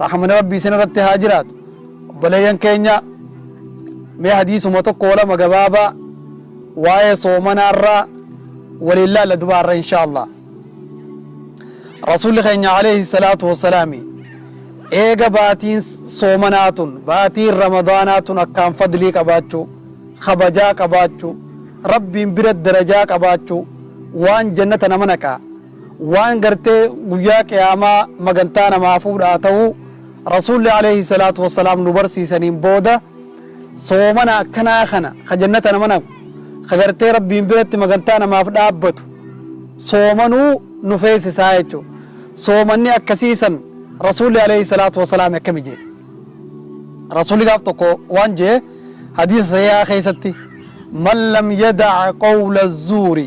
Rahmani Rabbii isin irratti haa jiraatu. Obboleeyyan keenya mee hadiisuma tokko lama gabaabaa waa'ee soomanaarraa waliin laalla dubaarra inshaallah. Rasuulli keenya alayhi salaatu wassalaami eega baatiin soomanaa tun baatiin ramadaanaa tun akkaan fadlii qabaachuu kabajaa qabaachuu rabbiin bira darajaa qabaachuu waan jannata nama naqaa waan gartee guyyaa qiyaamaa magantaa namaa fuudhaa ta'uu Rasuulli aleeyhi salaatu wassalaam nu barsiisaniin booda soomana akkanaa kana ka jannata nama naqu ka gartee Rabbiin biratti magantaa namaaf dhaabbatu soomanuu nu feesisaa jechuudha. Soomanni akkasii san Rasuulli aleeyhi salaatu wassalaam akkami jee? Rasuulli gaaf tokko waan jee hadiisa sahihaa keessatti man lam yada'a qawla zuuri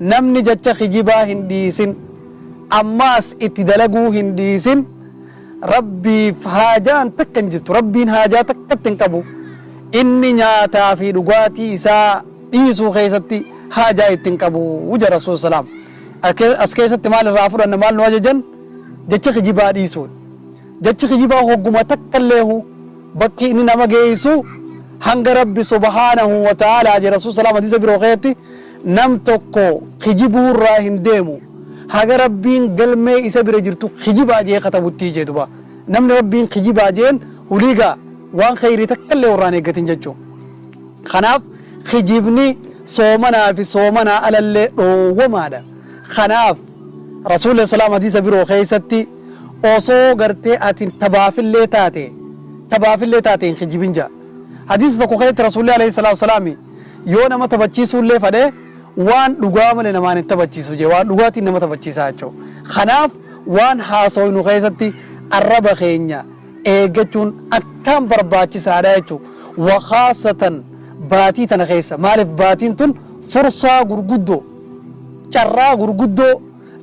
Namni jacha kijibaa hin dhiisin, ammaas itti dalaguu hin dhiisin, Rabbiif haajaan takka hin jirtu, Rabbiin haajaa takkatti hin qabu, inni nyaataa fi dhugaatii isaa dhiisuu keessatti haajaa itti hin qabu jedha Rasuul Salaam. As keessatti maal irraa fudhanna maal nu ajajan? Jacha kijibaa dhiisuun. Jachi kijibaa hogguma takka illeehu bakki inni nama geessu hanga Rabbi subhaanahu wa ta'aalaa jedha Rasuul Salaam hadiisa biroo keessatti Nam tokko kijibuu irraa hin deemu haga Rabbiin galmee isa bira jirtu kijibaa je'ee katabuttii je'e duba. Namni Rabbiin kijibaa je'een hulii gaa waan kheyrii takka illee irraa hin eeggatin jechu. Kanaaf kijibni soomanaa fi soomanaa ala illee dhoowwamaadha. Kanaaf Rasuulli alayhi salaam hadiisa biroo keessatti osoo gartee ati tabaaf illee taate tabaaf illee taate hin kijibin ja'a. Hadiisa tokko keessatti Rasuulli alayhi salaatu wa salaam Yoo nama taphachiisuu illee fadhe waan dhugaa malee namaan hin taphachiisu jee waan dhugaatiin nama taphachiisaa jechuu. Kanaaf waan haasoynu keessatti arraba keenya eeggachuun akkaan barbaachisaadha jechuu. Wa khaasatan baatii tana keessa maaliif baatiin tun fursaa gurguddoo carraa gurguddoo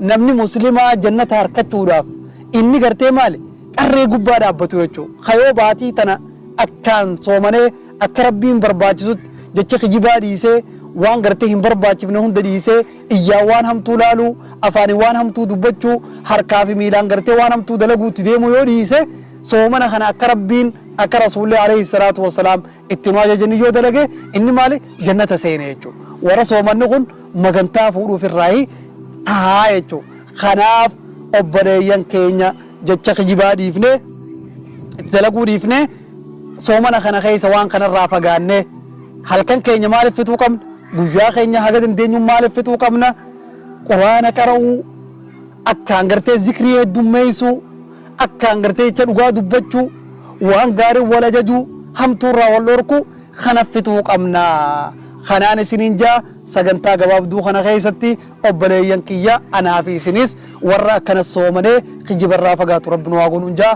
namni muslimaa jannata harkachuudhaaf inni gartee maali qarree gubbaa dhaabbatu jechuu. Ka yoo baatii tana akkaan soomanee Akka Rabbiin barbaachisutti jecha kijibaa dhiisee, waan gartee hin barbaachifne hunda dhiisee, iyyaan waan hamtuu laaluu, afaaniin waan hamtuu dubbachuu, harkaa fi miilaan gartee waan hamtuu dalaguu itti deemuu yoo dhiise, soomana kana akka Rabbiin, akka Rasuulli aleyhi salaatu wa salaam itti nu ajajanii yoo dalage, inni maali? Jannata seene jechuudha. Warra soomanni kun magantaa fuudhuuf irraayi taha jechuudha. Kanaaf obboleeyyan keenya jecha kijibaa dhiifnee, itti dalaguu dhiifnee, Soomana kana keessa waan kanarraa fagaannee halkan keenya maaliif fixuu qabna? Guyyaa keenya haga dandeenyuun maaliif fixuu qabna? Quraana qara'uu, akkaan gartee zikrii heddummeessuu, akkaan gartee jecha dhugaa dubbachuu, waan gaariin wal ajajuu, hamtuurraa wal dhorkuu kana fixuu qabna. Kanaan isiniin jaa sagantaa gabaabduu kana keessatti obboleeyyan kiyya anaa fi isinis warra akkana soomanee kijibarraa fagaatu rabbi nu haa godhuun jaa.